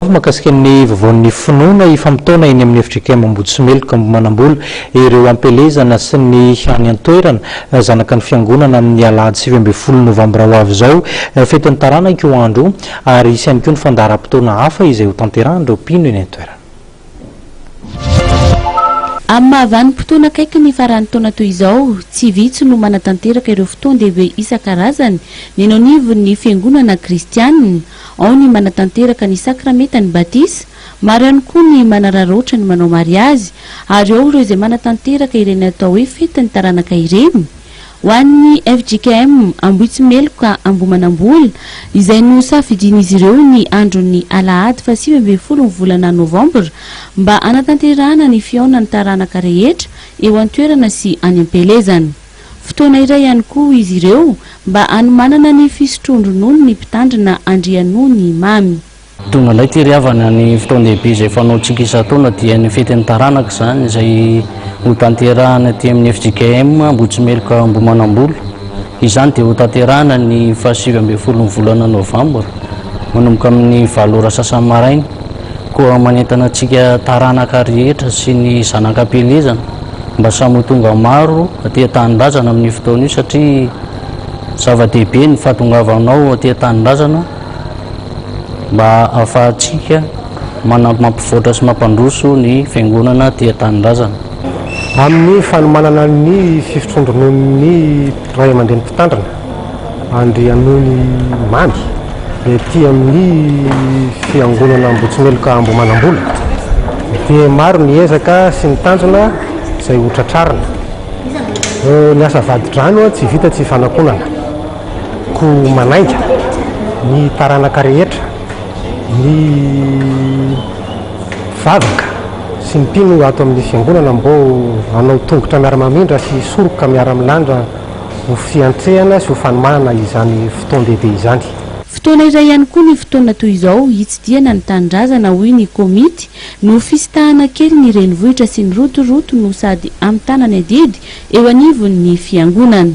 Mahakasika ny Vavaon'ny Finoana ifamotoana eny amin'ny FJKM Ambohitsimeloka manambola ireo am-pelezana sy ny any an-toerana zanaka ny Fiangonana amin'ny Alahady sivy ambin'ny folo Novambra ho avy izao. Fetin'ny taranaka io andro io ary hisy ihany koa ny fandaharam-potoana hafa izay hotanterahan'ireo mpino eny an-toerana. Amin'ny maha vanim-potoana akaiky ny faran'ny taona toy izao, tsy vitsy no manatanteraka ireo fotoan-dehibe isan-karazany ny eny anivon'ny Fiangonana Kristianina. Ao ny manatanteraka ny sakramentan'ny batisa, maro ihany koa ny manararaotra ny manao mariazy, ary ao ireo izay manatanteraka ireny atao hoe fetin'ny taranaka ireny. Ho an'ny fjkm Ambohitsimeloka Ambohimanambola, izay nosafidian'izy ireo ny andron'ny alahady fahasivy ambin'ny folo ny volana novambra mba hanatanterahana ny fihaonan'ny taranaka rehetra eo an-toerana sy any am-pielezana. Fotoana iray ihany koa izy ireo mba hanomanana ny fisotroan-dronono ny Mpitandrina Andrianony Mamy. Tonga indray tery havana ny fotoan-dehibe izay fanaontsika isan-taona dia ny fetin'ny taranaka izany izay hotanterahina aty amin'ny fjkm Ambohitsimeloka Ambohimanambola. Izany dia hotanterahina ny fahasivy ambin'ny folon'ny volana novambra manomboka amin'ny valo ora sasany maraina koa manentana antsika taranaka rehetra sy ny zanak'ampielezana mba samy ho tonga maro aty an-tanindrazana amin'io fotoana io satria zava-dehibe ny fahatongavanao aty an-tanindrazana mba ahafahantsika mampivoatra sy mampandroso ny fiangonana aty an-tanindrazana. Amin'ny fanomanana ny fifotroan-drononon'ny ray aman-dreny mpitandrina. Andrianonimamy, ety amin'ny fiangonana Ambohitsimeloka Ambohimanambola, dia maro ny ezaka sy ny tanjona izay ho tratrarina. Ny asa vadi-drano tsy vita tsy ifanakonana, koa manainga ny taranaka rehetra, ny vavaka sy ny mpino ato amin'ny fiangonana mbo hanao tongotra miara-mamindra sy hisoroka miara-milandra ho fiantrehana sy ho fanomahana izany fotoan-dehibe izany. Fotoana iray ihany koa ny fotoana toy izao hitsidihana ny tanindrazana hoy ny komity no fisintahana kely ny renivohitra sy ny rotoroto no sady hamitana ny adidy eo anivon'ny fiangonana.